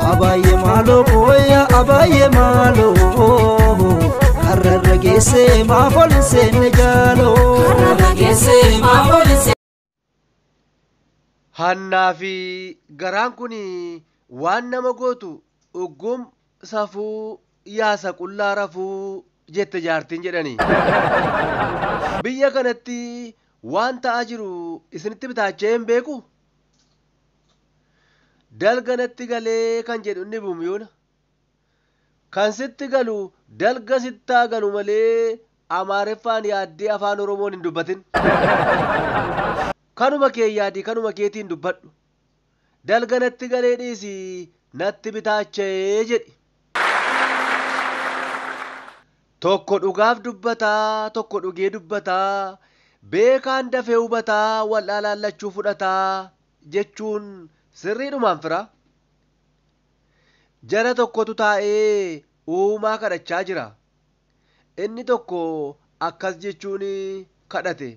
Abaayyee maaloo kooya abaayyee maaloo karrarra geessee maaf ol hin seenne jaaloo. Karrarra geessee maaf ol hin seenne. Hannaa fi garaan kun waan nama gootu uggum safuu yaasa qullaa rafuu jette jaartiin jedhani. Biyya kanatti waan ta'aa jiru isinitti bitaachee hin beeku? dalga natti galee kan jedhu inni bumyuuna kan sitti galu dalga sittaa galu malee amaareffaan yaaddee afaan oromoon hin dubbatin kanuma kee yaadi kanuma keetiin dubbadhu dalga natti galee dhiisi natti bitaacha'ee jedhi tokko dhugaaf dubbataa tokko dhugee dubbataa beekaan dafee hubataa wal'aalaan lachuu fudhataa jechuun sirriidhumaan fira. Jara tokkotu taa'ee Uumaa kadhachaa jira. Inni tokko akkas jechuun kadhate.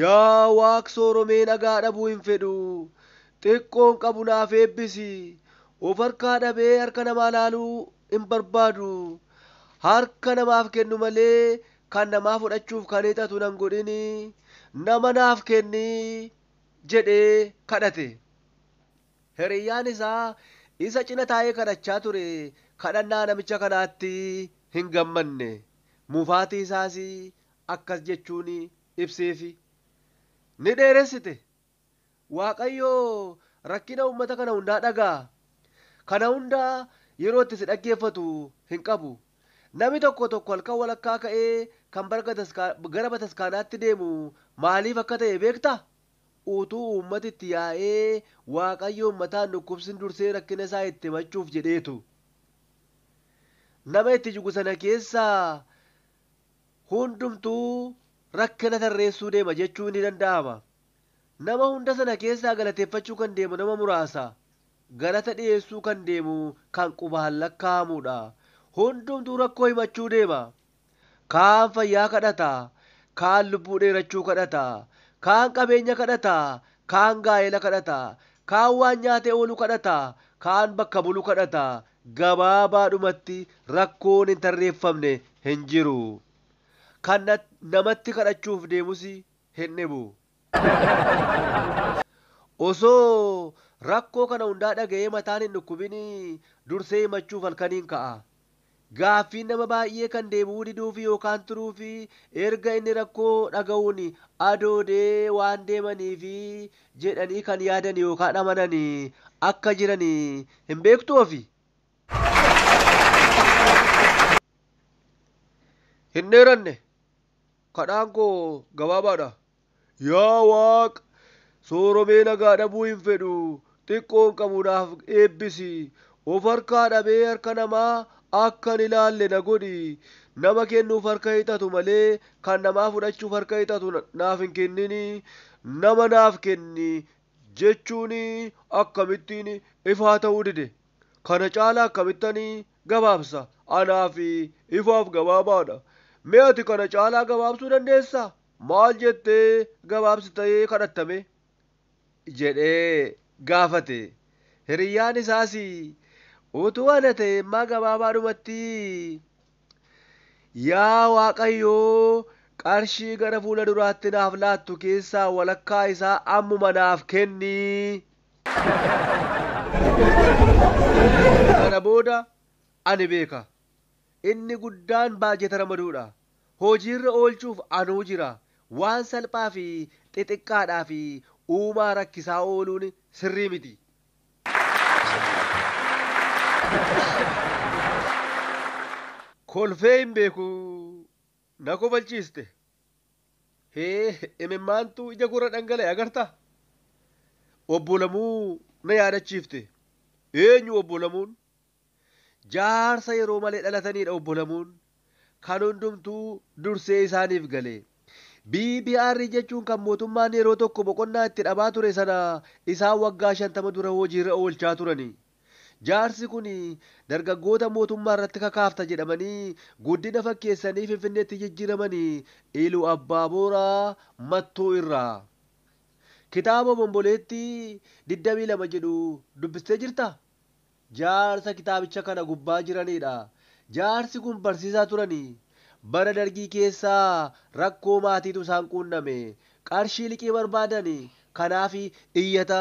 Yaa Waaq sooromee nagaa dhabuu hin fedhu. Xiqqoon qabu naaf eebbisi. Of harkaa dhabee harka namaa laaluu hin barbaadu. Harka namaaf kennu malee Kan namaa fudhachuuf kan hiixatu nan godhin, nama naaf kenni jedhee kadhate. Hiriyyaan isaa isa cina taa'ee kadhachaa ture kadhannaa namicha kanaatti hin gammanne. Mufaatii isaas akkas jechuun ibseefi. Ni dheeressite, Waaqayyo rakkina uummata kana hundaa dhaga'a. Kana hunda yeroo itti si dhaggeeffatu hin qabu. Nami tokko tokko halkan walakkaa ka'ee kan gara bataskaanaatti deemu maaliif akka ta'e beektaa? Utuu uummati itti yaa'ee Waaqayyoon mataan dhukkubsin dursee rakkina isaa itti himachuuf jedheetu. Nama itti jigu sana keessaa hundumtuu rakkina tarreessuu deema jechuun ni danda'ama. Nama hunda sana keessaa galateeffachuu kan deemu nama muraasa. Galata dhiyeessuu kan deemu kan qubaan lakkaa'amuudha. Hundumtuu rakkoo himachuu deema. Kaan fayyaa kadhata, kaan lubbuu dheerachuu kadhata, kaan qabeenya kadhata, kaan gaa'ela kadhata, kaan waan nyaatee oolu kadhata, kaan bakka bulu kadhata. Gabaabaadhumatti rakkoon hin tarreeffamne hin jiru. Kan namatti kadhachuuf deemus hin dhibu. Osoo rakkoo kana hundaa dhaga'ee mataan hin dhukkubin dursee himachuuf halkaniin ka'a. Gaaffiin nama baay'ee kan deebi'uu diduufi yookaan turuufi erga inni rakkoo dhaga'uun adoodee waan deemaniifi jedhanii kan yaadan yookaan amanan akka jiran hin beektuu ofi? Hin dheeranne. Kadhaan koo gabaabaadha. Yaa Waaq! Sooromee nagaa dhabuu hin fedhu, xiqqoon qabu naaf eebbisi. Of harkaa dhabee harka namaa akkan ilaalle na godhi. Nama kennuuf harka hiixatu malee kan namaa fudhachuuf harka hiixatu naaf hin kennin. Nama naaf kenni jechuun akkamittiin ifaa ta'uu dide? Kana caalaa akkamittan Gabaabsa, anaa fi ifaaf gabaabaadha. Mee ati kana caalaa gabaabsuu dandeessaa? Maal jettee gabaabsitee kadhatta mee? jedhee gaafate. Hiriyyaan isaas utuu ana ta'ee immaa gabaabaadhumatti Yaa Waaqayyoo qarshii gara fuula duraatti naaf laattu keessaa walakkaa isaa ammuma naaf kenni! Sana booda ani beeka. Inni guddaan baajeta ramaduudha. Hojiirra oolchuuf anuu jira. Waan salphaa fi xixiqqaadhaaf uumaa rakkisaa ooluun sirrii miti. Kolfee hin beeku. Na kofalchiiste. Hee imimmaantu ija koorra dhangala'e agartaa? Obbo Lamuu na yaadachiifte. Eenyu Obbo Lamuun? Jaarsa yeroo malee dhalataniidha Obbo Lamuun. Kan hundumtuu dursee isaaniif gale. BBR jechuun kan mootummaan yeroo tokko boqonnaa itti dhabaa ture sana isaan waggaa 50 dura hojiirra oolchaa turani. Jaarsi kun dargaggoota mootummaa irratti kakaafta jedhamanii guddina fakkeessanii Finfinneetti jijjiiramanii Ilu Abbaa Booraa Mattuu irraa. Kitaaba Obomboleettii 22 jedhu dubbistee jirtaa? Jaarsa kitaabicha kana gubbaa jiraniidha. Jaarsi kun barsiisaa turani. Bara Dargii keessa rakkoo maatiitu isaan quunname. Qarshii liqii barbaadani. Kanaaf iyyata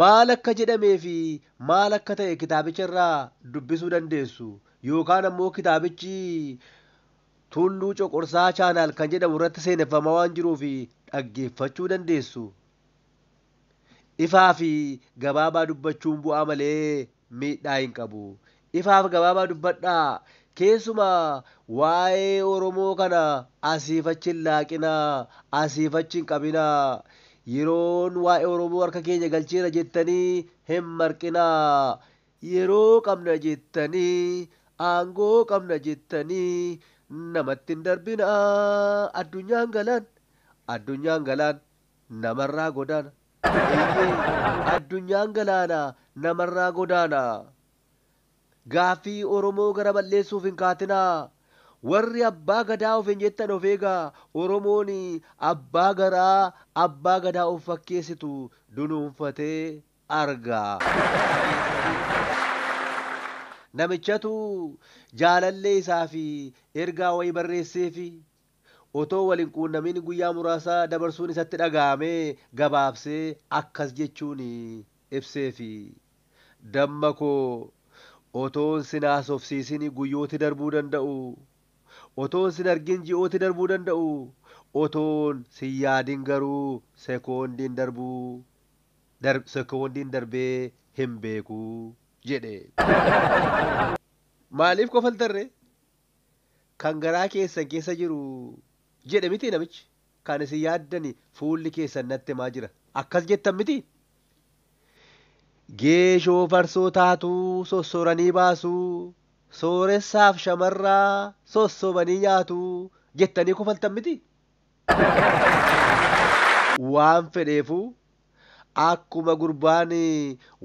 Maal akka jedhamee fi maal akka ta'e kitaabicha irraa dubbisuu dandeessu. Yookaan ammoo kitaabichi Tulluu Coqorsaa Chaanaal kan jedhamu irratti seeneffamaa waan jiruuf dhaggeeffachuu dandeessu. Ifaa fi gabaabaa dubbachuun bu'aa malee miidhaa hin qabu. Ifaaf gabaabaa dubbadhaa. Keessumaa waa'ee Oromoo kana asiif achi hin laaqinaa, asiif achi hin qabinaa. Yeroon waa'ee Oromoo harka keenya galcheera jettanii hin marqinaa. Yeroo qabna jettanii, aangoo qabna jettanii namatti hin darbinaa. Addunyaan galaan, addunyaan galaan namarraa godaana. Eeyyee, addunyaan galaana namarraa godaana. Gaaffii Oromoo gara bal'eessuuf hin kaatinaa. Warri Abbaa Gadaa ofiin jettan of eegaa. Oromoon Abbaa Garaa, Abbaa Gadaa of fakkeessitu dunuunfatee argaa. Namichatu jaalallee isaa fi ergaa wayii barreesseefi. Otoo wal hin quunnamiin guyyaa muraasa dabarsuun isatti dhaga'ame gabaabsee akkas jechuun ibseefi, Damma koo, otoon sin haasofsiisin guyyooti darbuu danda'u. Otoon sin argin ji'ooti darbuu danda'u. Otoon sin yaadin garuu sekoondiin darbuu, dar, sekoondiin darbee hin beeku jedhe. Maaliif kofaltarree? kan garaa keessan keessa jiru jedhe mitii namichi? Kan isin yaaddani fuulli keessan natti himaa jira. Akkas jettan mitii? Geeshoo farsoo taatuu sossoranii baasuu, sooressaaf shamarraa sossobanii nyaatuu jettanii kofaltan mitii? Waan fedheefuu Akkuma gurbaan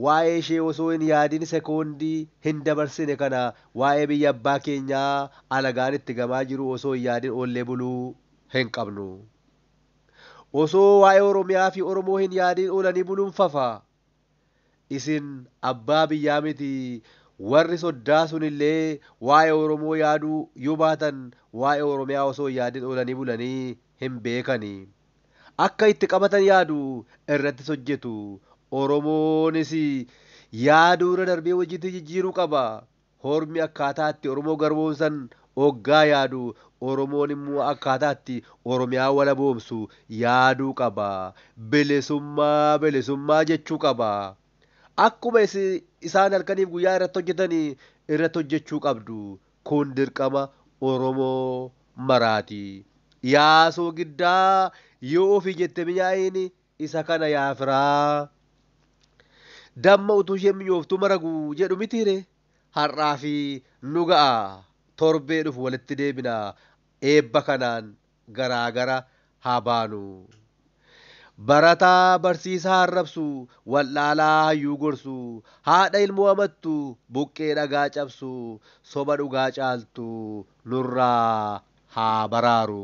waa'ee ishee osoo hin yaadin sekoondii hin dabarsine kana waa'ee biyya abbaa keenyaa alagaan itti gamaa jiruu osoo hin yaadin oollee buluu hin qabnu. Osoo waa'ee Oromiyaa fi Oromoo hin yaadin oolanii buluun fafa. Isin abbaa biyyaa miti warri soddaa sun illee waa'ee Oromoo yaaduu yoo baatan waa'ee Oromiyaa osoo hin yaadin oolanii bulanii hin beekani. akka itti qabatan yaadu irrattis hojjetu. Oromoonis yaaduu irra darbee hojiitti jijjiiruu qaba. Hormi akkaataa itti Oromoo garboomsan oggaa yaadu Oromoon immoo akkaataa itti Oromiyaa walaboomsu yaaduu qaba. Bilisummaa bilisummaa jechuu qaba. Akkuma isaan halkaniif guyyaa irratti hojjetan irratti hojjechuu qabdu. Kun dirqama oromoo maraati. Yaa soogiddaa yoo ofii jette minyaa'iin isa kana yaa firaa. Damma utuu isheen minyooftuu maragu jedhu mitii ree? Har'aafi nu ga'a. Torbee dhufu walitti deebina. Eebba kanaan garaa gara haa baanu. Barataa barsiisaa arrabsu, wal'aalaa hayyuu gorsu, haadha ilmoo amattu, buqqee dhagaa cabsu, soba dhugaa caaltu nurraa haa baraaru.